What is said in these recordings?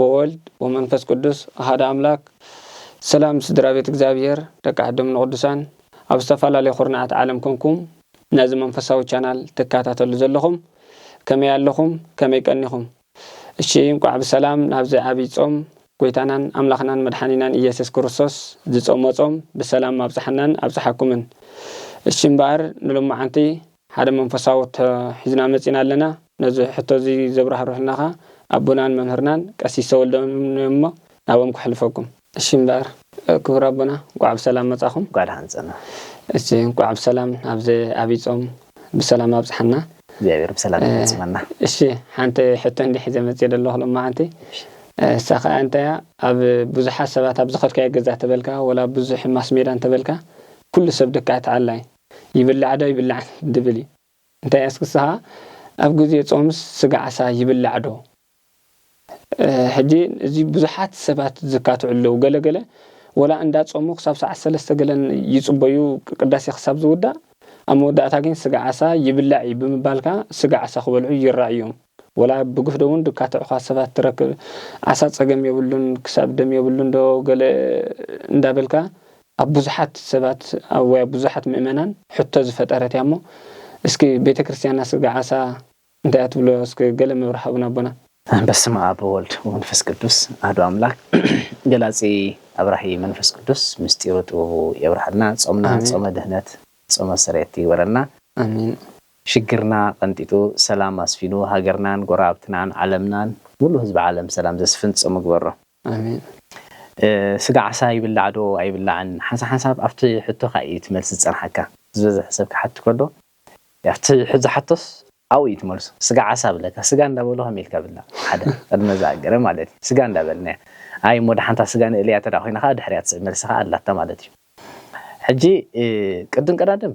ወወልድ ወመንፈስ ቅዱስ ኣሃደ ኣምላክ ሰላም ስድራቤት እግዚኣብሄር ደቂ ዓዶም ንቅዱሳን ኣብ ዝተፋላለዩ ኩርናዓት ዓለም ኮንኩም ነዚ መንፈሳዊ ቻናል ትካታተሉ ዘለኹም ከመይ ኣለኹም ከመይ ቀኒኹም እሺ እንቋዕ ብሰላም ናብዚ ዓቢይ ጾም ጎይታናን ኣምላኽናን መድሓኒናን እየስስ ክርስቶስ ዝጾሞ ጾም ብሰላም ኣብጽሓናን ኣብጽሓኩምን እሺ እምበኣር ንሎማዓንቲ ሓደ መንፈሳዊ ሕቶ ሒዝና መጺእና ኣለና። ነዚ ሕቶ እዚ ዘብራህርሑልና ከኣ ኣቦናን መምህርናን ቀሲስ ተወልደ እዮም እሞ ናብኦም ከሕልፈኩም። እሺ እምበኣር ክቡር ኣቦና እንቋዕ ብሰላም መጻኹም። እንቋዕ ደሓን ጸናሕ። እሺ እንቋዕ ብሰላም ናብዚ ዓቢይ ጾም ብሰላም ኣብጽሓና። እግዚኣብሔር ብሰላም ይፈጽመና። እሺ ሓንቲ ሕቶ እንዲየ ሒዘ መጺኤ ዘለኹ ሎማዓንቲ። እሳ ከኣ እንታይ እያ ኣብ ብዙሓት ሰባት ኣብ ዝኸድካዮ ገዛ ተበልካ ወላ ኣብ ብዙሕ ማስሜዳ እንተበልካ ኩሉ ሰብ ድካ እቲ ዓላይ ይብላዕ ዶ ኣይብላዕን ድብል እዩ እንታይ ኣስኪ ንስኻ ኣብ ግዜ ጾምስ ስጋ ዓሳ ይብላዕ ዶ ሕጂ እዚ ብዙሓት ሰባት ዝካትዑ ኣለዉ ገለ ገለ ወላ እንዳ ጾሙ ክሳብ ሰዓት ሰለስተ ገለ ይጽበዩ ቅዳሴ ክሳብ ዝውዳእ ኣብ መወዳእታ ግን ስጋ ዓሳ ይብላዕ እዩ ብምባልካ ስጋ ዓሳ ክበልዑ ይራኣዩ እዮም። ወላ ብግፍዶ እውን ድካ ትዕኳት ሰባት ትረክብ ዓሳ ጸገም የብሉን ክሳብ ደም የብሉን ዶ ገለ እንዳ በልካ ኣብ ብዙሓት ሰባት ወይ ኣብ ብዙሓት ምእመናን ሕቶ ዝፈጠረት እያ እሞ እስኪ ቤተክርስትያንና ስጋ ዓሳ እንታይ እያ ትብሎ እስኪ ገለ መብርሂ ሃቡና ኣቦና። በስመ ኣብ ወወልድ ወመንፈስ ቅዱስ ኣህዱ ኣምላክ ገላጺ ኣብራሂ መንፈስ ቅዱስ ምስጢሩ ጥበቡ የብርሃልና ጾምና ጾመ ድህነት ጾመ ስሬት ይግበረልና ኣሜን። ሽግርና ቀንጢጡ ሰላም ኣስፊኑ ሃገርናን ጎረባብትናን ዓለምናን ሙሉእ ህዝቢ ዓለም ሰላም ዘስፍን ጾም እግበሮ። ኣሜን ስጋ ዓሳ ይብላዕ ዶ ኣይብላዕን ሓንሳብ ኣብቲ ሕቶኻ ኢዩ እቲ መልሲ ዝጸንሓካ ዝበዝሕ ሰብ ክሓት ከሎ ኣብቲ ዝሓቶስ ኣብኡ ኢዩ እቲ መልሱ ስጋ ዓሳ ብለካ ስጋ እንዳ በሉ ከመይ ኢልካ ብላዕ ሓደ ቅድመ ዝኣገረ ማለት ኢዩ ስጋ እንዳ በልና ኣይ እሞ ድሓን እታ ስጋ ንእልያ እንተ ኮይና ከኣ ድሕሪኣ ትስዕብ መልሲ ከኣ ኣላታ ማለት ኢዩ ሕጂ ቅድም ቀዳድም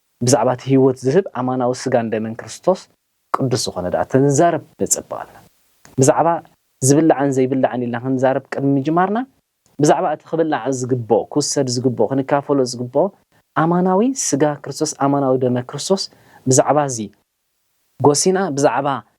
ብዛዕባ እቲ ህይወት ዝህብ ኣማናዊ ስጋን ደምን ክርስቶስ ቅዱስ ዝኾነ ድኣ ተንዛረብ በጸብቐልና። ብዛዕባ ዝብላዕን ዘይብላዕን ኢልና ክንዛረብ ቅድሚ ምጅማርና ብዛዕባ እቲ ክብላዕ ዝግብኦ ክውሰድ ዝግብኦ ክንካፈሎ ዝግብኦ ኣማናዊ ስጋ ክርስቶስ ኣማናዊ ደመ ክርስቶስ ብዛዕባ እዚ ጎሲና ብዛዕባ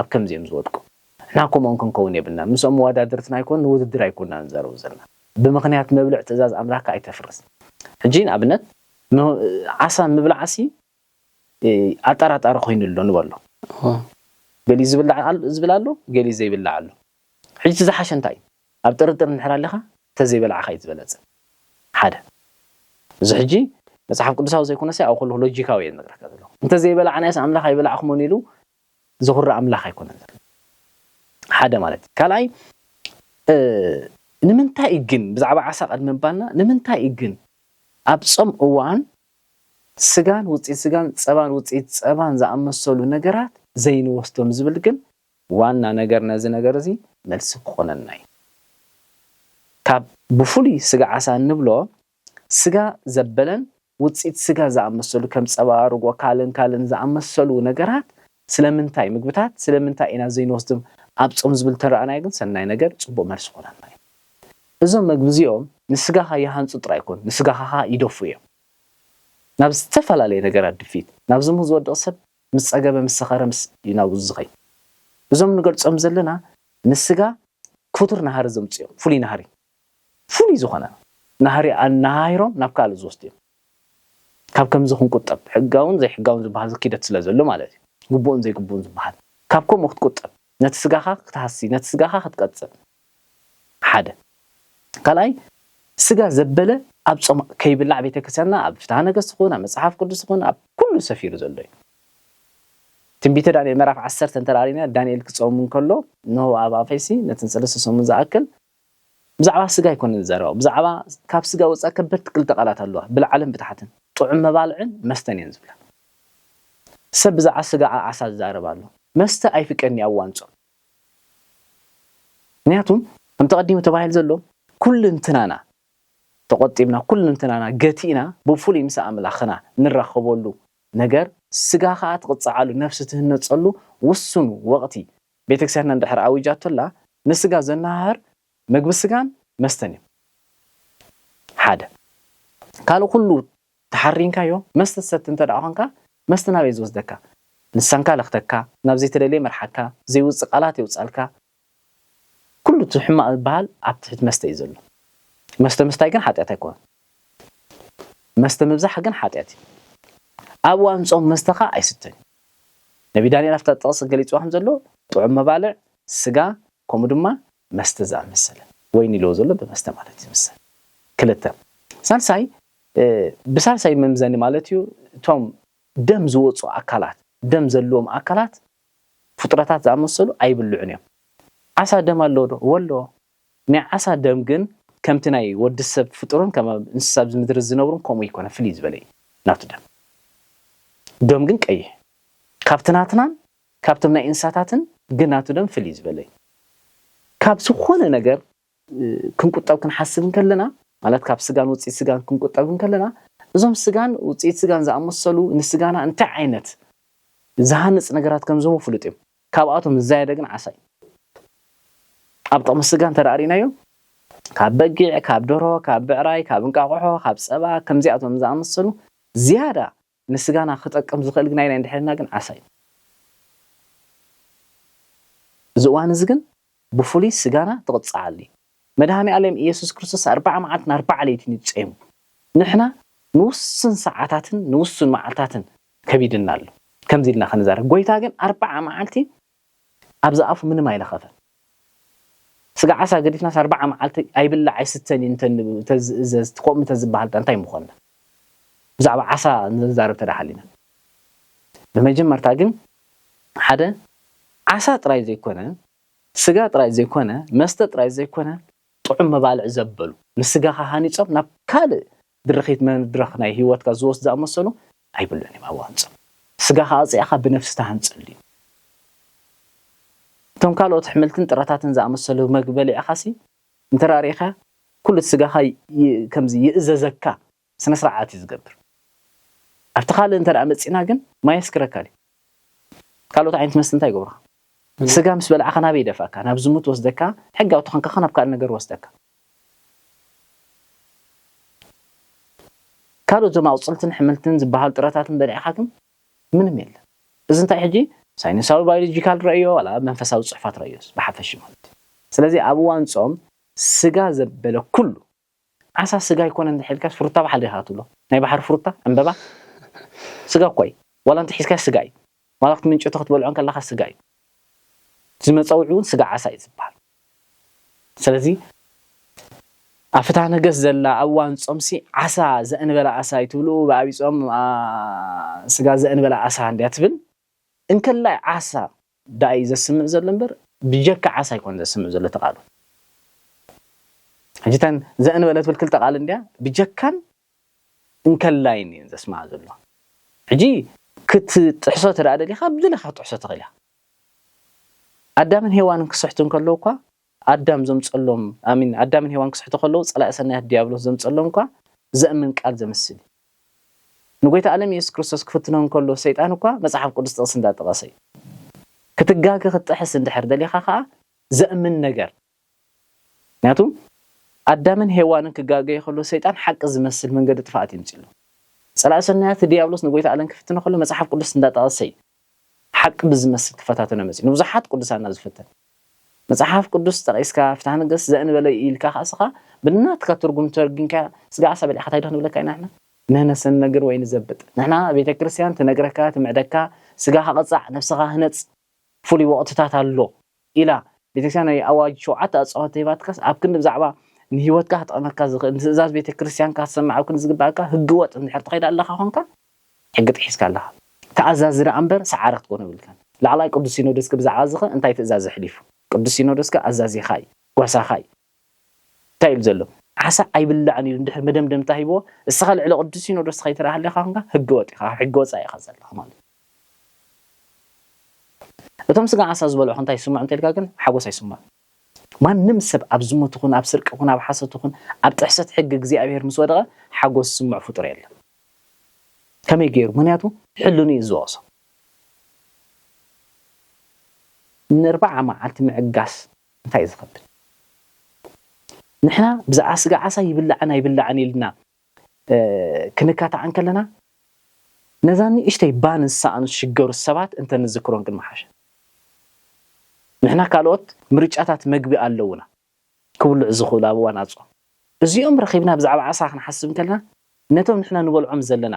ኣብ ከምዚ እዮም ዝወድቁ። ንሕና ከምኦም ክንከውን የብልናን። ምስኦም መወዳድርትና ኣይኮን ንውድድር ኣይኮናን ንዛረቡ ዘለና። ብምኽንያት መብልዕ ትእዛዝ ኣምላኽካ ኣይተፍርስ። ሕጂ ንኣብነት ን ዓሳ ምብላዕሲ ኣጠራጣሪ ኮይኑ ኣሎ ንበሎ። ገሊኡ ዝብላዕ ኣሎ ዝብል ኣሎ ገሊኡ ዘይብላዕ ኣሎ። ሕጂ እቲ ዝሓሸ እንታይ እዩ? ኣብ ጥርጥር እንድሕር ኣሊኻ እንተዘይበላዕኻ እዩ ዝበለጸ። ሓደ። እዚ ሕጂ መጽሓፍ ቅዱሳዊ ዘይኮነሰ ኣብ ኩሉ ሎጂካዊ እየ ዝነግረካ ዘለኹ። እንተዘይበላዕናዮስ ኣምላኽ ኣይበላዕኩሞን ኢሉ ዝኹርዕ ኣምላኽ ኣይኮነን ዘለና ሓደ ማለት እዩ ካልኣይ ንምንታይ እዩ ግን ብዛዕባ ዓሳ ቅድሚ ምባልና ንምንታይ እዩ ግን ኣብ ጾም እዋን ስጋን ውጽኢት ስጋን ጸባን ውጽኢት ጸባን ዝኣመሰሉ ነገራት ዘይንወስዶም ዝብል ግን ዋና ነገር ነዚ ነገር እዚ መልሲ ክኾነና እዩ ካብ ብፍሉይ ስጋ ዓሳ እንብሎ ስጋ ዘበለን ውጽኢት ስጋ ዝኣመሰሉ ከም ጸባ፣ ርጎ፣ ካልእን ካልእን ዝኣመሰሉ ነገራት ስለምንታይ ምግብታት ስለምንታይ ኢና ዘይንወስድም ኣብ ጾም ዝብል እንተረኣናዮ ግን ሰናይ ነገር ጽቡቕ መልሲ ክኾነና እዩ። እዞም መግቢ እዚኦም ንስጋኻ ይሃንጹ ጥራይ ኣይኮኑን ንስጋኻ ከኣ ይደፍኡ እዮም። ናብ ዝተፈላለየ ነገራት ድፍኢት ናብ ዝሙት ዝወድቕ ሰብ ምስ ጸገበ ምስ ሰኸረ ምስ እዩ ናብኡ ዝኸይድ። እዞም ንገልጾም ዘለና ንስጋ ክቱር ናህሪ ዘምጽኡ እዮም ፍሉይ ናህሪ። ፍሉይ ዝኾነ ናህሪ ኣነሃሂሮም ናብ ካልእ ዝወስዱ'ዮም። ካብ ከምዚ ክንቁጠብ፣ ሕጋውን ዘይሕጋውን ዝበሃል'ዚ ኪደት ስለ ዘሎ ማለት እዩ። ግቡእን ዘይግቡእን ዝበሃል። ካብ ከምኡ ክትቁጠብ፣ ነቲ ስጋኻ ክትሃሲ፣ ነቲ ስጋኻ ክትቀጽል። ሓደ። ካልኣይ፣ ስጋ ዘበለ ኣብ ጾም ከይብላዕ ቤተክርስቲያንና ኣብ ፍትሃ ነገሥት ይኹን ኣብ መጽሓፍ ቅዱስ ይኹን ኣብ ኩሉ ሰፊሩ ዘሎ እዩ። ትንቢተ ዳንኤል ምዕራፍ ዓሰርተ እንተርኣና ዳንኤል ክጾም እንከሎ እነሆ ኣብ ኣፈይሲ ነተን ሰለስተ ሰሙን ዝኣክል፣ ብዛዕባ ስጋ ኣይኮነን ዝዛረባ ብዛዕባ ካብ ስጋ ወጻኢ ከበድቲ ክልተ ቃላት ኣለዋ ብላዕልን ብታሕትን ጥዑም መባልዕን መስተን እየን ዝብላ ሰብ ብዛዕባ ስጋ ዓዓሳ ዝዛረብ ኣሎ መስተ ኣይፍቀድን'ዩ ኣብ እዋን ጾም ምክንያቱ ከምቲ ቀዲሙ ተባሂሉ ዘሎ ኩልንትናና ተቆጢብና ኩልንትናና ገቲእና ብፉሉይ ምስ ኣምላክና ንራከበሉ ነገር ስጋ ከኣ ትቅጽዓሉ ነብሲ ትህነጸሉ ውሱን ወቅቲ ቤተክርስቲያንና እንድሕር ኣዊጃቶላ ንስጋ ዘነሃህር መግቢ ስጋን መስተን እዩ ሓደ ካልእ ኩሉ ተሓሪንካዮ መስተ ትሰቲ እንተ ኾንካ መስተ ናበይ ዝወስደካ ልሳንካ ለኽተካ ናብ ዘይተደልየ ይመርሓካ ዘይውጽእ ቃላት የውጻልካ ኩሉ እቲ ሕማቕ ዝበሃል ኣብ ትሕቲ መስተ እዩ ዘሎ መስተ ምስታይ ግን ሓጢኣት ኣይኮነን መስተ ምብዛሕ ግን ሓጢኣት እዩ ኣብ እዋን ጾም መስተኻ ኣይስተን እዩ ነብይ ዳንኤል ኣብታ ጥቕሲ ገሊጽዋ ከም ዘሎ ጥዑም መባልዕ፣ ስጋ፣ ከምኡ ድማ መስተ ዝኣመሰለ፣ ወይኒ ኢልዎ ዘሎ ብመስተ ማለት እዩ ዝምሰል። ክልተ። ሳልሳይ፣ ብሳልሳይ መምዘኒ ማለት እዩ እቶም ደም ዝወጹ ኣካላት፣ ደም ዘለዎም ኣካላት ፍጡረታት ዝኣመሰሉ ኣይብልዑን እዮም። ዓሳ ደም ኣለዎ ዶ? እወ ኣለዎ። ናይ ዓሳ ደም ግን ከምቲ ናይ ወዲ ሰብ ፍጡርን ከም ኣብ እንስሳ ኣብዚ ምድሪ ዝነብሩን ከምኡ ኣይኮነን ፍልይ ዝበለ እዩ ናቱ ደም ዶም ግን ቀይሕ እዩ ካብቲ ናትናን ካብቶም ናይ እንስሳታትን ግን ናቱ ደም ፍልይ ዝበለ እዩ ካብ ዝኾነ ነገር ክንቁጠብ ክንሓስብ እንከለና ማለት ካብ ስጋን ውጽኢት ስጋን ክንቁጠብ እንከለና እዞም ስጋን ውጽኢት ስጋን ዝኣመሰሉ ንስጋና እንታይ ዓይነት ዝሃንጽ ነገራት ከም ዝህቡ ፍሉጥ እዩ ካብኣቶም ዝዛየደ ግን ዓሳ እዩ። ኣብ ጥቕሚ ስጋ እንተደኣ ርኢናዮ፣ ካብ በጊዕ፣ ካብ ደርሆ፣ ካብ ብዕራይ፣ ካብ እንቃቑሖ፣ ካብ ጸባ፣ ከምዚኣቶም ዝኣመሰሉ ዝያዳ ንስጋና ክጠቅም ዝኽእል ግናይናይ እንድሕር ኢልና ግን ዓሳ እዩ። እዚ እዋን እዚ ግን ብፍሉይ ስጋና ትቕጽዓሉ እዩ። መድሃኔኣሌም እየሱስ ክርስቶስ ኣርብዓ መዓልትን ኣርብዓ ለይትን እዩ ጸይሙ። ንሕና ንውሱን ሰዓታትን ንውሱን መዓልታትን ከቢድና ኣሎ ከምዚ ኢልና ክንዛረብ ጎይታ ግን ኣርብዓ መዓልቲ ኣብዚ ኣፉ ምንም ኣይለኸፈን። ስጋ ዓሳ ገዲፍናስ ኣርብዓ መዓልቲ ኣይብላዕ ኣይስተን እዩ እንተ እንተዝእዘዝ ከምኡ እንተ ዝበሃል ድኣ እንታይ ምኾንና። ብዛዕባ ዓሳ ንዘንዛረብ እንተ ሃሊና። ብመጀመርታ ግን ሓደ ዓሳ ጥራይ ዘይኮነ፣ ስጋ ጥራይ ዘይኮነ፣ መስተ ጥራይ ዘይኮነ፣ ጥዑም መባልዕ ዘበሉ፣ ንስጋኻ ሃኒጾም ናብ ካልእ ድርኺት መድረኽ ናይ ህይወትካ ዝወስዱ ዝኣመሰሉ ኣይብሉን እዮም ኣብኡ ሃንጾም። ስጋኻ ኣጽያኻ ብነፍሲ ትሃንጸሉ እዩ። እቶም ካልኦት ኣሕምልትን ጥረታትን ዝኣመሰሉ መግቢ በሊዕኻሲ እንተ ርኢኻ ኩሉቲ ስጋኻ ከምዚ ይእዘዘካ። ስነ ስርዓት እዩ ዝገብር ኣብቲ ካልእ እንተ መጺና ግን ማይ የስክረካ ድዩ ካልኦት ዓይነት መስተ እንታይ ይገብሩካ ስጋ ምስ በላዕካ ናበይ ይደፍኣካ ናብ ዝሙት ወስደካ ሕጋዊ ተኾንካ ናብ ካልእ ነገር ወስደካ ካልኦት ዞም ኣቁጽልትን ሕምልትን ዝበሃሉ ጥረታትን በሊዕካ ግን ምንም የለን እዚ እንታይ ሕጂ ሳይንሳዊ ባዮሎጂካል ረእዮ ዋላ መንፈሳዊ ጽሑፋት ረእዮስ ብሓፈሽ ማለት እዩ ስለዚ ኣብ እዋን ጾም ስጋ ዘበለ ኩሉ ዓሳ ስጋ ኣይኮነን እንድሕር ኢልካስ ፍሩታ በሓል ዲኻ ክትብሎ ናይ ባሕሪ ፍሩታ ዕምበባ ስጋ እኮ እዩ ዋላ እንተሒዝካዮ ስጋ እዩ ዋላ ክትምንጭቶ ክትበልዖ እንከለኻ ስጋ እዩ እዚ መጸውዒ ውን ስጋ ዓሳ እዩ ዝብሃል ስለዚ ኣብ ፍትሃ ነገስት ዘላ ኣብ እዋን ጾም ሲ ዓሳ ዘእንበለ ኣሳ እዩ ትብልኡ ብኣብይ ጾም ስጋ ዘእንበለ ኣሳ እንድያ ትብል እንከላይ ዓሳ ዳኣ እዩ ዘስምዕ ዘሎ እምበር ብጀካ ዓሳ ኣይኮነን ዘስምዕ ዘሎ እቲ ቃሉ ሕጂ እተን ዘእን በለ ትብል ክልተ ቃል እንድያ ብጀካን እንከላይን እየን ዘስምዓ ዘሎ ሕጂ ክትጥሕሶ ተደኣ ደሊኻ ብደለካ ክትጥሕሶ ትኽእል ኢኻ ኣዳምን ሄዋንን ክስሕቱ እንከለዉ እኳ ኣዳም ዘምጸሎም ኣሚን ኣዳምን ሄዋን ክስሕቱ ከለዉ ጸላኢ ሰናያት ድያብሎስ ዘምጸሎም እኳ ዘእምን ቃል ዘምስል እዩ። ንጎይታ ኣለም የሱስ ክርስቶስ ክፍትኖ እንከሎ ሰይጣን እኳ መጽሓፍ ቅዱስ ጥቅሲ እንዳ ጠቀሰ እዩ። ክትጋገ ክትጥሕስ እንድሕር ደሊካ ከኣ ዘእምን ነገር ምክንያቱ ኣዳምን ሄዋንን ክጋገዩ ከለዉ ሰይጣን ሓቂ ዝመስል መንገዲ ጥፍኣት የምጽሎም። ጸላኢ ሰናያት ድያብሎስ ንጎይታ ኣለም ክፍትኖ ከሎ መጽሓፍ ቅዱስ እንዳ ጠቀሰ እዩ። ሓቂ ብዝመስል ክፈታተኖ መጺኡ ንብዙሓት ቅዱሳና ዝፈተነ። መጽሓፍ ቅዱስ ጠቂስካ ፍትሃ ነገስት ዘእንበለይ ኢልካ ከኣስኻ ብናትካ ትርጉም ተርጊምካያ ስጋ ዓሳ በሊዕኻ ታይ ዶ ክንብለካ ኢና ንሕና። ንህነሰንነግር ወይ ንዘብጥ ንሕና ቤተክርስትያን ትነግረካ ትምዕደካ ስጋኻ ቅጻዕ ነብስኻ ህነጽ ፉሉይ ወቅትታት ኣሎ። ኢላ ቤተክርስቲያን ናይ ኣዋጅ ሸውዓተ ኣጽዋር ተሂባትካስ ኣብ ክንዲ ብዛዕባ ንህይወትካ ክጠቕመካ ዝኽእል ንትእዛዝ ቤተክርስቲያንካ ክትሰምዕ ኣብ ክንዲ ዝግበኣካ ህገ ወጥ እንድሕር ትኸይድ ኣለኻ ኮንካ ሕጊ ጥሒስካ ኣለኻ ተኣዛዚ ደኣ እምበር ሰዓረ ክትኮን የብልካን ላዕላይ ቅዱስ ሲኖዶስከ ብዛዕባ እዚኸ እንታይ ትእዛዝ ኣሕሊፉ ቅዱስ ሲኖዶስከ ኣዛዚኻ እዩ ጓሳኻ እዩ እንታይ ኢሉ ዘሎ? ዓሳ ኣይብላዕን ኢሉ እንድሕር መደምደምታ ሂብዎ፣ እስኻ ልዕሊ ቅዱስ ሲኖዶስ ኸይትርኣ ሃሊኻ ኹንካ ሕገወጥ ኢኻ፣ ካብ ሕጊ ወጻኢ ኢኻ ዘለኻ ማለት ኢዩ። እቶም ስጋ ዓሳ ዝበልዑ እንታይ ይስምዖም እንተልካ ግን ሓጎስ ኣይስምዖም። ማንም ሰብ ኣብ ዝሙት ይኹን ኣብ ስርቂ ይኹን ኣብ ሓሶት ይኹን ኣብ ጥሕሰት ሕጊ እግዚኣብሄር ምስ ወደቐ ሓጎስ ዝስምዖ ፍጡር የለን። ከመይ ገይሩ? ምኽንያቱ ሕልንኡ ኢዩ ዝወቕሶ። ንርብዓ መዓልቲ ምዕጋስ። እንታይ እዩ ዝኸብድ ንሕና ብዛዕባ ስጋ ዓሳ ይብላዕን ኣይብላዕን ኢልና ክንካታዕ እንከለና ነዛ ንእሽተይ ባን ዝሰኣኑ ዝሽገሩ ሰባት እንተንዝክሮም ግን ምሓሸ። ንሕና ካልኦት ምርጫታት መግቢ ኣለዉና ክብልዑ ዝኽእሉ ኣብ እዋን ኣጽዋም። እዚኦም ረኺብና ብዛዕባ ዓሳ ክንሓስብ እንከለና ነቶም ንሕና ንበልዖም ዘለና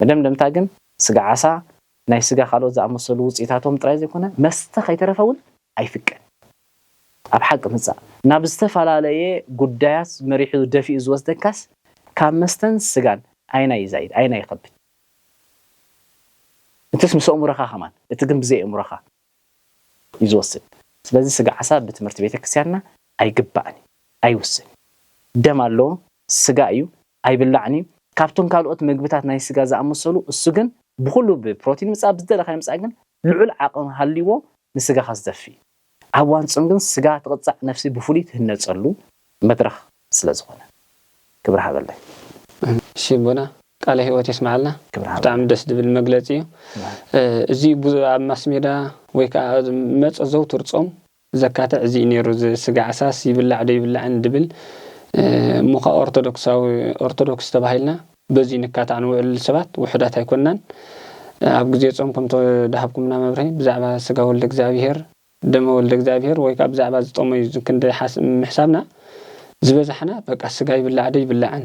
መደምደምታ ግን ስጋ ዓሳ፣ ናይ ስጋ ካልኦት ዝኣመሰሉ ውጽኢታቶም ጥራይ ዘይኮነ መስተ ከይተረፈ እውን ኣይፍቀድን እዩ። ኣብ ሓቂ ምጻእ ናብ ዝተፈላለየ ጉዳያት መሪሑ ደፊኡ ዝወስደካስ ካብ መስተን ስጋን ኣየናይ ይዛይድ ኣየናይ ይኸብድ? እቲስ ምስ ኣእምሮኻ ከማን እቲ ግን ብዘይ ኣእምሮኻ እዩ ዝወስድ። ስለዚ ስጋ ዓሳ ብትምህርቲ ቤተክርስቲያንና ኣይግባእን እዩ ኣይውስን እዩ። ደም ኣለዎ ስጋ እዩ ኣይብላዕን እዩ ካብቶም ካልኦት መግብታት ናይ ስጋ ዝኣመሰሉ እሱ ግን ብኹሉ ብ ፕሮቲን ምጻእ ብ ዝደለኻዮ ምጻእ ግን ልዑል ዓቕም ሃልይዎ ንስጋኻ ዝደፊ ኣብ እዋን ጾም ግን ስጋ ትቕጻዕ ነፍሲ ብፍሉይ ትህነጸሉ መድረኽ ስለ ዝኾነ ክብሪ ሃበለይ። እሺ ኣቦና ቃለ ህይወት የስመዓልና ክብሪ ብጣዕሚ ሃበለይ ደስ ዝብል መግለጺ እዩ። ክብሪ ሃበለይ። እዚ ቡዙ ኣብ ማስሜዳ ወይ ከኣ መጸ ዘውትር ጾም ዘካትዕ እዚ'ዩ ነይሩ እዚ ስጋ ዓሳስ ይብላዕ ዶ ይብላዕን ድብል እሞ'ኸኣ ኦርቶዶክሳዊ ኦርቶዶክስ ተባሂልና በዚ ንካታዕ ንውዕል ሰባት ውሑዳት ኣይኮናን ኣብ ግዜ ጾም ከምተዳሃብኩምና መብርሂ ብዛዕባ ስጋ ወልደ እግዚኣብሄር ደመ ወልደ እግዚኣብሄር ወይ ከኣ ብዛዕባ ዝጠመዩ ክንዲ ምሕሳብና ዝበዛሕና በቃ ስጋ ይብላዕ ዶ ይብላዕን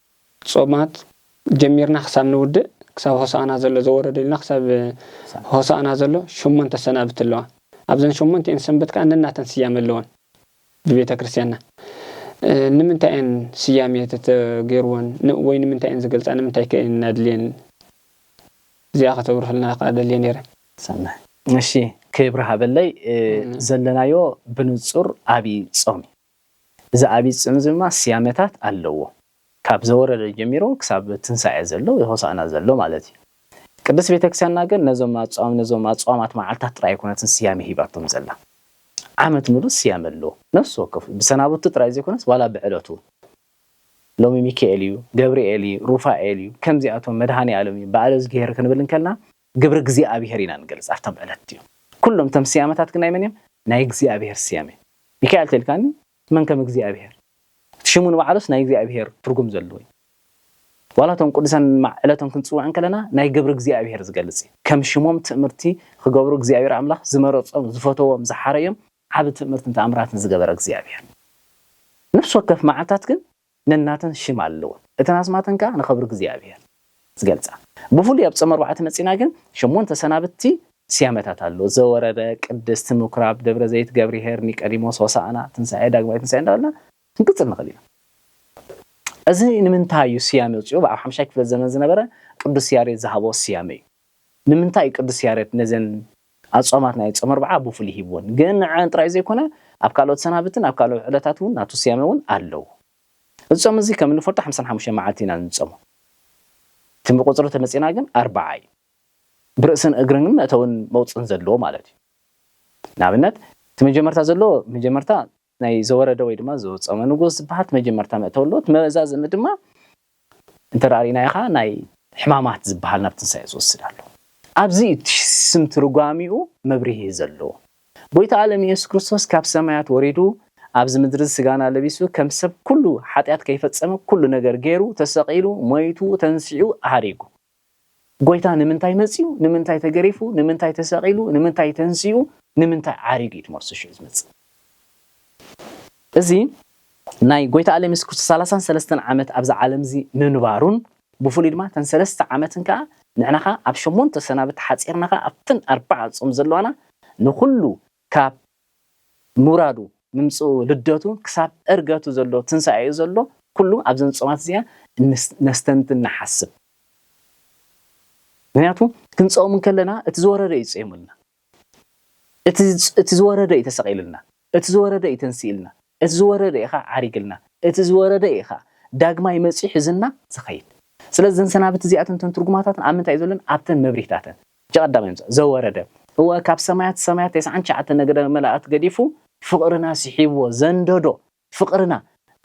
ጾማት ጀሚርና ክሳብ ንውድእ ክሳብ ሆሳእና ዘሎ ዘወረደ ኢልና ክሳብ ሆሳእና ዘሎ ሸሞንተ ሰናብቲ ኣለዋ። ኣብዘን ሸሞንቲኤን ሰንበት ከኣ ነናተን ስያመ ኣለወን ብቤተ ክርስቲያንና። ንምንታይ እየን ስያሜ ተተጌርወን ወይ ንምንታይ እየን ዝገልጻ ንምንታይ ከ እየን ኣድልየን እዚኣ ከተብርህልና ከኣ ደልየ ኔረ። ሰናይ እሺ ክብሪ ሃበለይ ዘለናዮ ብንጹር ኣብይ ጾም እዩ። እዚ ዓቢይ ጽምኢ እዚ ድማ ስያመታት ኣለዎ። ካብ ዘወረደ ጀሚሩ ክሳብ ትንሳኤ ዘሎ ወይ ሆሳእና ዘሎ ማለት እዩ። ቅድስት ቤተክርስቲያንና ግን ነዞም ኣጽዋም ነዞም ኣጽዋማት መዓልታት ጥራይ ኣይኮነትን ስያመ ሂባቶም ዘላ። ዓመት ምሉእ ስያመ ኣለዎ። ነፍሲ ወከፍ ብሰናብቱ ጥራይ ዘይኮነስ ዋላ ብዕለቱ ሎሚ ሚካኤል እዩ፣ ገብርኤል እዩ፣ ሩፋኤል እዩ፣ ከምዚኣቶም መድሃኔኣለም እዩ፣ በዓለእዝግሄር ክንብል እንከለና፣ ግብሪ እግዚኣብሄር ኢና ንገልጽ ኣብቶም ዕለት እቲኦም። ኩሎም እቶም ስያመታት ግን ናይ መን እዮም? ናይ እግዚኣብሄር ስያመ። ሚካኤል ተልካኒ መን ከም እግዚኣብሄር። እቲ ሽሙ ንባዕሉስ ናይ እግዚኣብሄር ትርጉም ዘለዎ እዩ። ዋላ እቶም ቅዱሳን እንማዕ ዕለቶም ክንጽውዕ እንከለና ናይ ግብሪ እግዚኣብሄር ዝገልጽ እዩ። ከም ሽሞም ትእምርቲ ክገብሩ እግዚኣብሄር ኣምላኽ ዝመረጾም፣ ዝፈተዎም፣ ዝሓረዮም፣ ዓቢ ትእምርትን ተኣምራትን ዝገበረ እግዚኣብሄር። ነፍሲ ወከፍ መዓልታት ግን ነናተን ሽም ኣለወን፣ እተን ኣስማተን ከኣ ንኸብሪ እግዚኣብሔር ዝገልጻ። ብፍሉይ ኣብ ጾም ኣርባዓ ተመጺእና ግን ሸሞንተ ሰናብቲ። ስያመታት ኣሎ፣ ዘወረደ፣ ቅድስት፣ ምኵራብ፣ ደብረ ዘይት፣ ገብርሄር፣ ኒቀዲሞስ፣ ሆሳእና፣ ትንሣኤ፣ ዳግማይ ትንሣኤ እንዳበልና ክንቅጽል ንኽእል ኢና። እዚ ንምንታይ እዩ ስያሜ ኣውጺኡ ብኣብ ሓምሻይ ክፍለ ዘመን ዝነበረ ቅዱስ ያሬድ ዝሃቦ ስያሜ እዩ። ንምንታይ እዩ ቅዱስ ያሬድ ነዘን ኣጽዋማት ናይ ጾመ ኣርብዓ ብፍሉይ ሂብወን? ግን ንዐኣን ጥራይ ዘይኮነ ኣብ ካልኦት ሰናብትን ኣብ ካልኦት ዕለታት እውን ናቱ ስያመ እውን ኣለዎ። እዚ ጾም እዚ ከም እንፈልጦ ሓምሳን ሓሙሽተን መዓልቲ ኢና እንጾሞ። እቲ ብቁጽሪ እንተመጺእና ግን ኣርብዓ እዩ። ብርእስን እግርን መእተውን መውጽእን ዘለዎ ማለት እዩ። ንኣብነት እቲ መጀመርታ ዘለዎ መጀመርታ፣ ናይ ዘወረደ ወይ ድማ ዘወጸመ ንጉስ ዝበሃት መጀመርታ መእተው ኣሎ። እቲ መዛዘሚ ድማ እንተ ርኢናዮ ከኣ ናይ ሕማማት ዝበሃል ናብ ትንሳኤ ዝወስድ ኣሎ። ኣብዚ እዩ እቲ ስም ትርጓሚኡ መብርሂ ዘለዎ። ጎይታ ኣለም ኢየሱስ ክርስቶስ ካብ ሰማያት ወሪዱ ኣብዚ ምድሪ ስጋና ለቢሱ ከም ሰብ ኩሉ ሓጢኣት ከይፈጸመ ኩሉ ነገር ገይሩ ተሰቂሉ ሞይቱ ተንሲዑ ሃሪጉ። ጎይታ ንምንታይ መጺኡ፣ ንምንታይ ተገሪፉ፣ ንምንታይ ተሰቒሉ፣ ንምንታይ ተንሲኡ፣ ንምንታይ ዓሪጉ እዩ ትመልሱ ሽዑ ዝመጽእ እዚ ናይ ጎይታ ኣለም የሱስ ክርስቶስ ሰላሳን ሰለስተን ዓመት ኣብዚ ዓለም እዚ ምንባሩን ብፍሉይ ድማ እተን ሰለስተ ዓመትን ከኣ ንሕና ከኣ ኣብ ሸሞንተ ሰናብቲ ሓጺርና ከኣ ኣብተን ኣርባዓ ጾም ዘለዋና ንኹሉ ካብ ምውራዱ፣ ምምጽኡ፣ ልደቱ ክሳብ ዕርገቱ ዘሎ ትንሳኤኡ ዘሎ ኩሉ ኣብዘን ጾማት እዚኣን ነስተንትን ንሓስብ። ምክንያቱ ክንጸውም እንከለና እቲ ዝወረደ እዩ ጸይሙልና። እቲ እቲ ዝወረደ እዩ ተሰቒሉልና። እቲ ዝወረደ እዩ ተንሲእልና። እቲ ዝወረደ ኢኻ ዓሪግልና እቲ ዝወረደ ኢኻ ዳግማይ መጺኡ ሒዝና ዝኸይድ ስለዚ እዘን ሰናብቲ እዚኣተን እተን ትርጉማታተን ኣብ ምንታይ እዩ ዘሎን ኣብተን መብርሂታተን እቲ ቀዳማይ ምጽ ዘወረደ እወ ካብ ሰማያት ሰማያት ተስዓን ትሽዓተ ነገደ መላእክት ገዲፉ ፍቕርና ስሒብዎ ዘንደዶ ፍቕርና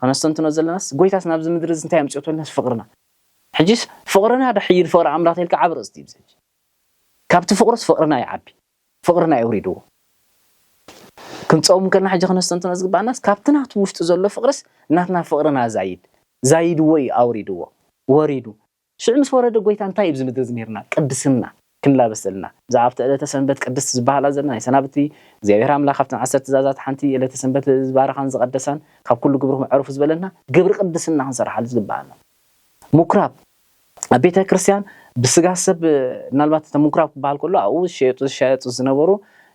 ከነስተንትኖ ዘለናስ ጎይታስ ናብዚ ምድሪ እዚ እንታይ ኣምጽኦ ተበልናስ ፍቕርና ሕጂስ ፍቕርና ዶ ሕይል ፍቕሪ ኣምላኽ ተልካ ዓቢ ኣርእስቲ እዩ እዚ ሕጂ ካብቲ ፍቕሩስ ፍቕርና ይዓቢ ፍቕርና የውሪድዎ። ክንጸውም ከለና ሕጂ ከነስተንትኖ ዝግብኣናስ ካብቲ ናቱ ውሽጢ ዘሎ ፍቕርስ ናትና ፍቕርና ዛይድ ዛይድዎ እዩ ኣውሪድዎ ወሪዱ ሽዑ ምስ ወረደ ጎይታ እንታይ እዩ ኣብዚ ምድሪ ዝምህርና ቅድስና ክንላበስ ዘለና ብዛዕባ ኣብቲ ዕለተ ሰንበት ቅድስት ዝበሃላ ዘለና ናይ ሰናብቲ እግዚኣብሔር ኣምላክ ካብተን ዓሰርተ ትእዛዛት ሓንቲ እዩ ዕለተ ሰንበት ዝባረኻን ዝቐደሳን ካብ ኩሉ ግብርኹም ዕረፉ ዝበለና ግብሪ ቅድስና ክንሰርሓሉ ዝግብኣና ሙኩራብ ኣብ ቤተ ክርስቲያን ብስጋ ሰብ ምናልባት እተ ምኩራብ ክበሃል ከሎ ኣብኡ ዝሸየጡ ዝሻየጡ ዝነበሩ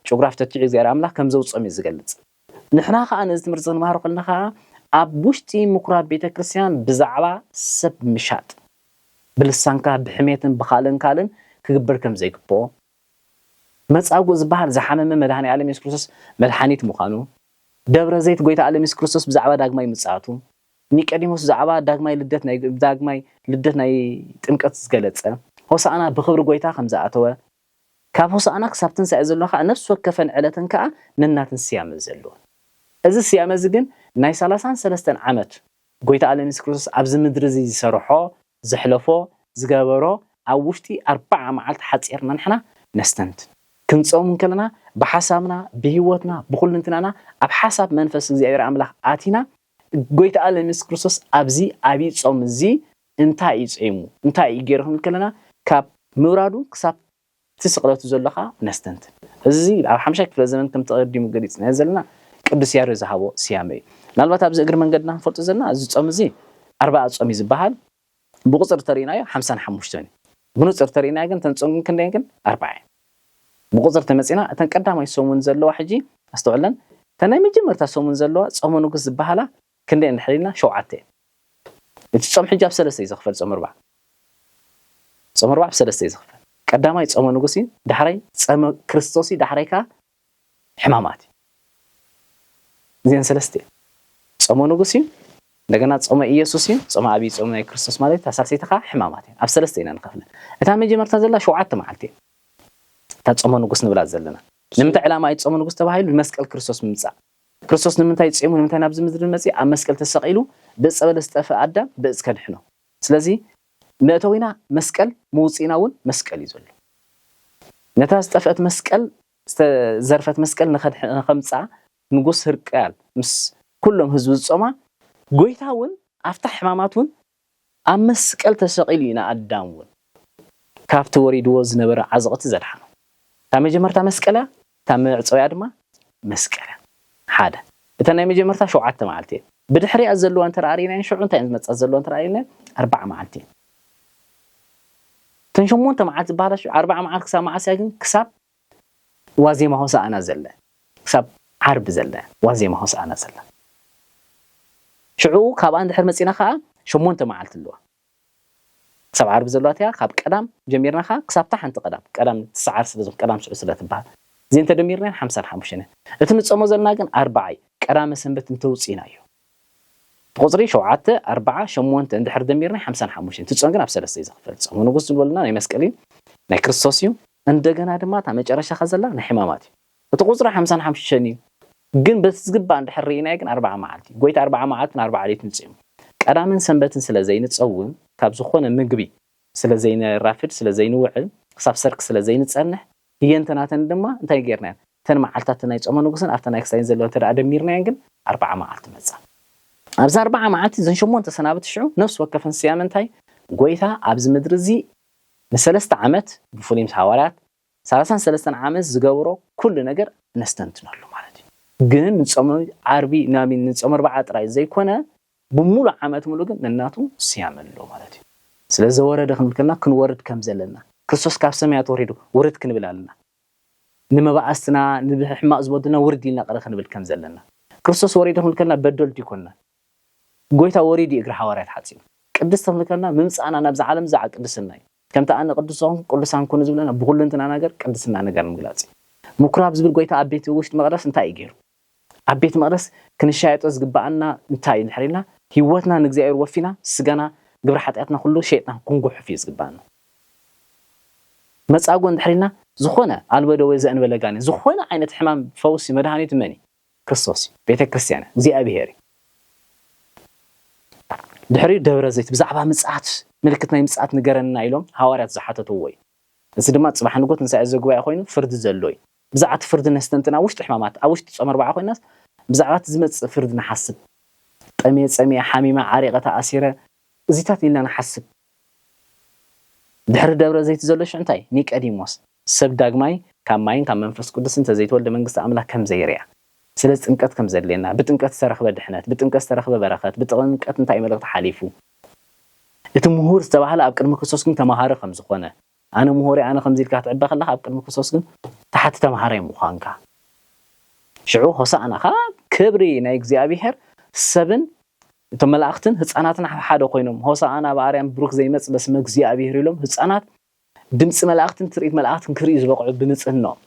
ጭጉራፍ ተቲዑ እግዚኣብሔር ኣምላኽ ከም ዘውፅኦም እዩ ዝገልፅ። ንሕና ከዓ ነዚ ትምህርቲ ዝንማሃሮ ከለና ከዓ ኣብ ውሽጢ ምኩራብ ቤተ ክርስቲያን ብዛዕባ ሰብ ምሻጥ ብልሳንካ ብሕሜትን ብካልእን ካልእን ክግበር ከም ዘይግብኦ መፃጉእ ዝበሃል ዝሓመመ መድኃኔ ዓለም ኢየሱስ ክርስቶስ መድሓኒት ምዃኑ ደብረ ዘይት ጎይታ ዓለም ኢየሱስ ክርስቶስ ብዛዕባ ዳግማይ ምፅኣቱ ኒቀዲሞስ ብዛዕባ ዳግማይ ልደት ናይ ብዳግማይ ልደት ናይ ጥምቀት ዝገለጸ፣ ሆሳእና ብኽብሪ ጐይታ ከም ዝኣተወ፣ ካብ ሆሳእና ክሳብ ትንሳኤ ዘሎ ከኣ ነፍሲ ወከፈን ዕለትን ከኣ ነናተን ስያመ ዘለወን። እዚ ስያመ እዚ ግን ናይ ሰላሳን ሰለስተን ዓመት ጐይታ ኣለም የሱስ ክርስቶስ ኣብዚ ምድሪ እዚ ዝሰርሖ፣ ዘሕለፎ፣ ዝገበሮ ኣብ ውሽጢ ኣርብዓ መዓልቲ ሓጺርና ንሕና ነስተንትን። ክንጸውም እንከለና ብሓሳብና፣ ብህይወትና፣ ብኹልንትናና ኣብ ሓሳብ መንፈስ እግዚኣብሔር ኣምላኽ ኣቲና ጎይታኣለም የሱስ ክርስቶስ ኣብዚ ዓቢይ ጾም እዚ እንታይ እዩ ጾይሙ እንታይ እዩ ጌሩ ክንብል ከለና ካብ ምውራዱ ክሳብ እቲ ስቕለቱ ዘሎ ከኣ ነስተንትን። እዚ ኣብ ሓምሻይ ክፍለ ዘመን ከምቲ ቀዲሙ ገሊጽናዮ ዘለና ቅዱስ ያሬድ ዝሃቦ ስያመ እዩ። ምናልባት ኣብዚ እግሪ መንገድና ክንፈልጦ ዘለና እዚ ጾም እዚ ኣርባኣ ጾም እዩ ዝበሃል። ብቁጽሪ ተሪኢናዮ ሓምሳን ሓሙሽተን እዩ ብኑጽር ተሪኢናዮ ግን እተን ጹንግን ክንደይን ግን ኣርባዓ እየን ብቁጽሪ ተመጺና እተን ቀዳማይ ሰሙን ዘለዋ ሕጂ ኣስተውዕለን እተን ናይ መጀመርታ ሰሙን ዘለዋ ጾመ ንጉስ ዝበሃላ ክንደይ እንድሕር ኢልና ሸውዓተ እየን እቲ ጾም ሕጂ ብ ሰለስተ እዩ ዝኽፈል ጾመ ርባዕ ጾመ ርባዕ ብ ሰለስተ እዩ ዝኽፈል ቀዳማይ ጾመ ንጉስ እዩ ዳሕራይ ጸመ ክርስቶስ እዩ ዳሕራይ ከኣ ሕማማት እዩ። እዚኤን ሰለስተ እየን። ጾመ ንጉስ እዩ፣ እንደገና ጾመ ኢየሱስ እዩ፣ ጾመ ኣብይ ጾም ናይ ክርስቶስ ማለት እዩ፣ እታ ሳልሰይቲ ከኣ ሕማማት እየን። ኣብ ሰለስተ ኢና ንኸፍለን። እታ መጀመርታ ዘላ ሸውዓተ መዓልቲ እያ። እታ ጾመ ንጉስ ንብላ ዘለና። ንምንታይ ዕላማ እዩ ጾመ ንጉስ ተባሂሉ? ንመስቀል ክርስቶስ ምምጻእ። ክርስቶስ ንምንታይ ጼሙ ንምንታይ ናብዚ ምድሪ መጽየ? ኣብ መስቀል ተሰቒሉ ብእጸ በለስ ዝጠፍኣ ኣዳም ብእጽ ከድሕኖ። ስለዚ መእተዊና መስቀል መውጽኢና ውን መስቀል እዩ ዘሎ ነታ ዝጠፍእት መስቀል ዝተዘርፈት መስቀል ንከምጽኣ ንጉስ ህርቃል ምስ ኩሎም ህዝቡ ዝጾማ ጎይታ ውን ኣብታ ሕማማት ውን ኣብ መስቀል ተሰቂሉ እዩ ንኣዳም ውን ካብቲ ወሪድዎ ዝነበረ ዓዘቅቲ ዘድሓኖ እታ መጀመርታ መስቀል እያ እታ መዕጸዊኣ ድማ መስከረም ሓደ እተን ናይ መጀመርታ ሸውዓተ መዓልቲ እየን። ብድሕሪኣ ዘለዋ እንተድኣ ርኢናየን ሽዑ እንታይ እየን ዝመጻ ዘለዋ እንተድኣ ርኢናየን ኣርብዓ መዓልቲ እየን። እተን ሸሞንተ መዓልቲ ዝበሃላ ሽዑ ኣርብዓ መዓልቲ ክሳብ መዓስ እያ ግን ክሳብ ዋዜማ ሆሳእና ዘለ ክሳብ ዓርቢ ዘለ ዋዜማ ሆሳእና ዘለ ሽዑ ካብኣ እንድሕር መጺና ከኣ ሸሞንተ መዓልቲ ኣለዋ። ክሳብ ዓርቢ ዘሎ ኣቲካ ካብ ቀዳም ጀሚርና ከኣ ክሳብ እታ ሓንቲ ቀዳም ቀዳም ትስዓር ስለ ዝኮነት ቀዳም ስዑድ ስለ ትብሃል እዚኤን ተደሚርነን ሓምሳን ሓሙሽተን እየን እቲ ንጾሞ ዘለና ግን ኣርብዓ እዩ ቀዳመ ሰንበት እንተውጺኢና እዩ ብቁጽሪ ሸውዓተ ኣርብዓ ሸሞንተ እንድሕር ደሚርና ሓምሳን ሓሙሽተን እቲ ጾም ግን ኣብ ሰለስተ እዩ ዝክፈል ጾመ ንጉስ ዝብለልና ናይ መስቀል እዩ ናይ ክርስቶስ እዩ እንደገና ድማ እታ መጨረሻካ ዘላ ናይ ሕማማት እዩ። እቲ ቁጽሪ ሓምሳን ሓምሽተን እዩ ግን በቲ ዝግባእ እንድሕር ርኢናዮ ግን ኣርብዓ መዓልቲ እዩ ጎይታ ኣርብዓ መዓልትን ኣርብዓ ለይትን ጽዩም ቀዳምን ሰንበትን ስለ ዘይንጸውም ካብ ዝኾነ ምግቢ ስለ ዘይነራፍድ ስለ ዘይንውዕል ክሳብ ሰርክ ስለ ዘይንጸንሕ ህየንተ ናተን ድማ እንታይ ጌርናየን እተን መዓልትታት ናይ ጾመ ንጉስን ኣብተን ናይ ክሳይን ዘለዋ እንተ ደሚርናየን ግን ኣርብዓ መዓልቲ መጻ ኣብዚ ኣርብዓ መዓልቲ እዘን ሸሞንተ ሰናብቲ ሽዑ ነፍሲ ወከፈን ስያመ እንታይ ጎይታ ኣብዚ ምድሪ እዚ ንሰለስተ ዓመት ብፍሉይ ምስ ሃዋርያት ሰላሳን ሰለስተን ዓመት ዝገብሮ ኩሉ ነገር ነስተንትነሉ ማለት እዩ ግን ንጾም ዓርቢ ናሚን ንጾም ኣርባዓ ጥራይ ዘይኮነ ብሙሉ ዓመት ሙሉ ግን ነናቱ ስያመ ኣለዎ ማለት እዩ ስለ ዘወረደ ክንብል ከለና ክንወርድ ከም ዘለና ክርስቶስ ካብ ሰማያት ወሪዱ ውርድ ክንብል ኣለና ንመባእስትና ንብሕማቅ ዝበዱልና ውርድ ኢልና ቅረ ክንብል ከም ዘለና ክርስቶስ ወሪዱ ክንብል ከለና በደልቱ ይኮንና ጎይታ ወሪዱ እግሪ ሓዋርያት ሓጺቡ ቅድስቲ ክንብል ከለና ምምጻእና ናብዛ ዓለም ዛዕ ቅድስና እዩ ከምቲ ኣነ ቅዱስ ዝኾንኩ ቅዱሳን ኩኑ ዝብለና ብኹሉ እንትና ነገር ቅድስና ነገር ንምግላጽ እዩ። ምኩራብ ዝብል ጎይታ ኣብ ቤት ውሽጢ መቅደስ እንታይ እዩ ገይሩ? ኣብ ቤት መቅደስ ክንሻየጦ ዝግበኣና እንታይ እዩ እንድሕር ኢልና ህይወትና ንእግዚኣብሔር ወፊና ስጋና ግብሪ ሓጢኣትና ኩሉ ሸይጥና ክንጉሕፍ እዩ ዝግበኣና። መጻጉዕ እንድሕር ኢልና ዝኾነ ኣልቦ ደዌ ዘእንበለ ጋኔን ዝኾነ ዓይነት ሕማም ፈውሲ መድሃኒቱ መን እዩ? ክርስቶስ እዩ ቤተ ክርስትያን እግዚኣብሔር እዩ ድሕሪኡ ደብረ ዘይት ብዛዕባ ምጽኣት ምልክት ናይ ምጽኣት ንገረና ኢሎም ሃዋርያት ዝሓተትዎ እዩ እዚ ድማ ጽባሕ ንግሆ ትንሳኤ ዘጉባኤ ኮይኑ ፍርዲ ዘሎ እዩ ብዛዕባ እቲ ፍርዲ ነስተንትን ኣብ ውሽጢ ሕማማት ኣብ ውሽጢ ጾመ ኣርብዓ ኮይናስ ብዛዕባ እቲ ዝመጽእ ፍርዲ ንሓስብ ጠምየ ጸሚየ ሓሚመ ዓሪቐ ተኣሲረ እዚታት ኢልና ንሓስብ ድሕሪ ደብረ ዘይት ዘሎ ሽዑ እንታይ ኒቀዲሞስ ሰብ ዳግማይ ካብ ማይን ካብ መንፈስ ቅዱስን እንተ ዘይተወልደ መንግስቲ ኣምላክ ከም ዘይርኣ። ስለዚ ጥምቀት ከም ዘድልየና፣ ብጥምቀት ዝተረኽበ ድሕነት፣ ብጥምቀት ዝተረኽበ በረኸት፣ ብጥምቀት እንታይ መልእኽቲ ሓሊፉ፣ እቲ ምሁር ዝተባህለ ኣብ ቅድሚ ክርስቶስ ግን ተማሃሪ ከም ዝኾነ፣ ኣነ ምሁር እየ ኣነ ከምዚ ኢልካ ክትዕበ ከለኻ ኣብ ቅድሚ ክርስቶስ ግን ታሓቲ ተማሃራይ ምዃንካ፣ ሽዑ ሆሳእና ከኣ ክብሪ ናይ እግዚኣብሄር ሰብን እቶም መላእኽትን ህጻናትን ሓብሓደ ኮይኖም ሆሳእና በኣርያም ብሩክ ዘይመጽእ በስመ እግዚኣብሄር ኢሎም ህጻናት ድምጺ መላእኽትን ትርኢት መላእኽትን ክርእዩ ዝበቕዑ ብንጽህንኦም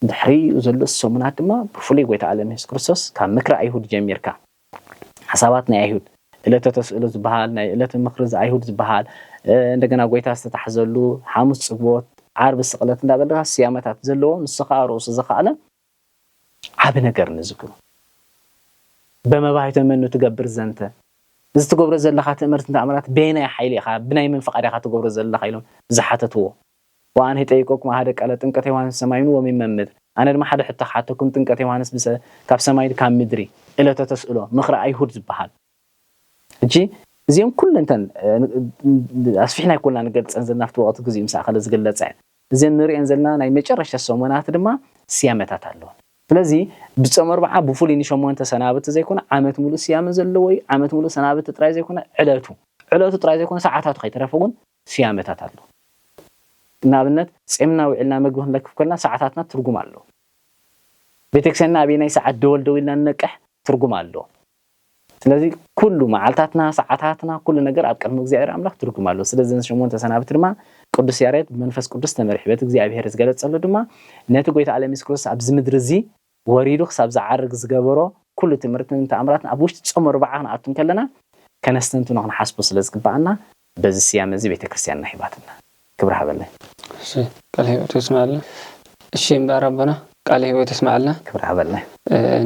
ድሕሪ ዘሎ ሰሙናት ድማ ብፍሉይ ጎይታ ዓለም የሱስ ክርስቶስ ካብ ምክሪ ኣይሁድ ጀሚርካ ሓሳባት ናይ ኣይሁድ እለተ ተስእሎ ዝበሃል ናይ እለተ ምክሪ ዝኣይሁድ ዝበሃል እንደገና ጎይታ ዝተታሕዘሉ ሓሙስ ጽግቦት ዓርቢ ስቕለት እንዳበልካ ስያመታት ዘለዎ ንሱ ከዓ ርእሱ ዝኸኣለ ዓቢ ነገር ንዝክሩ። በመባይተ መኑ ትገብር ዘንተ? እዚ ትገብሮ ዘለኻ ትእምርትን ተኣምራት በየናይ ሓይሊ ኢኻ ብናይ መን ፍቓድ ኢኻ ትገብሮ ዘለኻ ኢሎም ዝሓተትዎ። ወኣንህ ጠይቆኩም ኣሃደ ቃለ ጥምቀተ ዮሓንስ ሰማይኑ ወሚመ ምድር ኣነ ድማ ሓደ ሕቶ ክሓተኩም ጥምቀተ ዮሓንስ ብሰ ካብ ሰማይን ካብ ምድሪ እለተ ተስእሎ ምክረ ኣይሁድ ዝበሃል ሕጂ እዚኦም ኩለን እተን ኣስፊሕና ኣይኮንና ንገልጸን ዘለና ኣብቲ ወቕቲ ግዚኡ ምስ ኣኸለ ዝግለጸ እዘን ንርእየን ዘለና ናይ መጨረሽታ ሰሙናት ድማ ስያመታት ኣለወን። ስለዚ ብጾም ኣርብዓ ብፍሉይ ንሸሞንተ ሰናብቲ ዘይኮነ ዓመት ምሉእ ስያመ ዘለዎ እዩ። ዓመት ምሉእ ሰናብቲ ጥራይ ዘይኮነ ዕለቱ ዕለቱ ጥራይ ዘይኮነ ሰዓታቱ ከይተረፈ እውን ስያመታት ኣለዎ። ንኣብነት ጼምና ውዒልና መግቢ ክንለክፍ ከለና ሰዓታትና ትርጉም ኣለዎ። ቤተክርስቲያንና ኣበየናይ ሰዓት ደወል ደዊልና ንነቅሕ ትርጉም ኣለዎ። ስለዚ ኩሉ መዓልታትና ሰዓታትና ኩሉ ነገር ኣብ ቅድሚ እግዚኣብሔር ኣምላኽ ትርጉም ኣለዎ። ስለዚ ነዚ ሸሞንተ ሰናብቲ ድማ ቅዱስ ያሬድ ብመንፈስ ቅዱስ ተመሪሑ በቲ እግዚኣብሔር ዝገለጸሉ ድማ ነቲ ጎይታ ኣለም የሱስ ክርስቶስ ኣብዚ ምድሪ እዚ ወሪዱ ክሳብ ዝዓርግ ዝገበሮ ኩሉ ትምህርትን ተኣምራትን ኣብ ውሽጢ ጾም ኣርብዓ ክንኣቱ እንከለና ከነስተንትኖ ክንሓስቦ ስለ ዝግብኣና በዚ ስያመ እዚ ቤተ ክርስትያንና ሂባትና። ክብሪ ሃበለይ። እሺ ቃለ ህይወት የስመዐልና። እሺ እምበኣር ኣቦና ቃለ ህይወት የስመዐልና። ክብሪ ሃበለይ።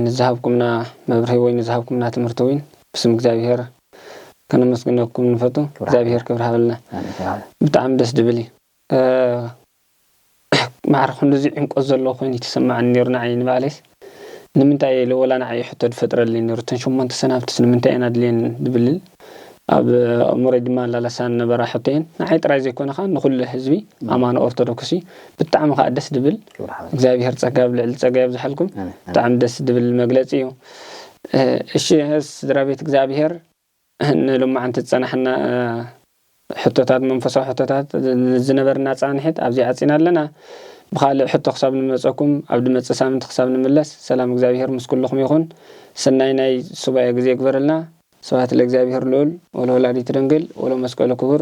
ንዝሃብኩምና መብርሂ ወይ ንዝሃብኩምና ትምህርቲ ዊን ብስም እግዚኣብሄር ከነመስግነኩም ንፈቱ። ክብሪ ሃበለይ። እግዚኣብሄር ክብሪ ሃበልና። ኣሜን ክብሪ ሃበለይ። ብጣዕሚ ደስ ድብል እዩ። ማዕረ ክንድዚ ዕምቆት ዘለዎ ኮይኑ ይተሰመዓኒ ኔሩ ንዓይ ንባዕለይስ ንምንታይ እየ ኢለ ወላ ንዓይ ሕቶ ድፈጥረለይ ኔሩ እተን ሸሞንተ ሰናብትስ ንምንታይ እየን ኣድልየን ድብልል ኣብ ኣእምሮይ ድማላላሳኒ ነበራ ሕቶ እየን ንዓይ ጥራይ ዘይኮነ ከኣ ንኩሉ ህዝቢ ኣማኒ ኦርቶዶክስ እዩ ብጣዕሚ ከኣ ደስ ድብል እግዚኣብሄር ጸጋ ኣብ ልዕሊ ጸጋ የብዝሓልኩም ብጣዕሚ ደስ ድብል መግለጺ እዩ እሺ ስድራቤት እግዚኣብሄር ንሎማዕንቲ ዝጸናሕና ሕቶታት፣ መንፈሳዊ ሕቶታት፣ ንዝነበርና ጻንሒት ኣብዚ ዓጺና ኣለና። ብኻልእ ሕቶ ክሳብ ንመጸኩም ኣብ ድመጽእ ሳምንቲ ክሳብ ንምለስ ሰላም እግዚኣብሄር ምስ ኩሉኹም ይኹን። ሰናይ ናይ ሱባኤ ግዜ ይግበረልና። ስብሐት ለእግዚኣብሔር ልዑል ወለወላዲቱ ድንግል ወለመስቀሉ ክቡር።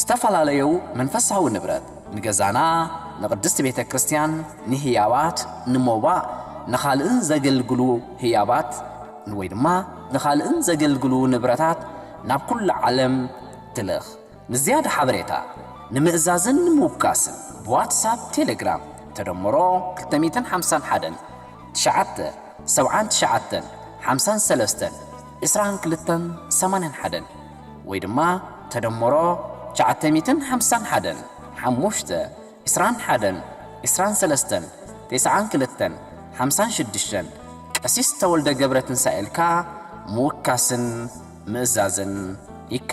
ዝተፋላለዩ መንፈሳዊ ንብረት፣ ንገዛና፣ ንቅድስት ቤተ ክርስቲያን፣ ንህያባት፣ ንሞባእ፣ ንኻልእን ዘገልግሉ ህያባት ወይ ድማ ንኻልእን ዘገልግሉ ንብረታት ናብ ኩሉ ዓለም ትልኽ። ንዝያዳ ሓበሬታ፣ ንምእዛዝን ንምውካስን ብዋትሳፕ፣ ቴሌግራም፣ ተደምሮ ክልተ ሚእትን ሓምሳን ሓደን፣ ትሽዓተ፣ ሰብዓን ትሽዓተን፣ ሓምሳን ሰለስተን፣ ዕስራን ክልተን፣ ሰማንያን ሓደን፣ ወይ ድማ ተደምሮ ትሽዓተ ሚእትን ሓምሳን ሓደን ሓሙሽተ ዕስራን ሓደን ዕስራን ሰለስተን ቴስዓን ክልተን ሓምሳን ሽዱሽተን ቀሲስ ተወልደ ገብረትንሳኤልካ ምውካስን ምእዛዝን ይካኣል።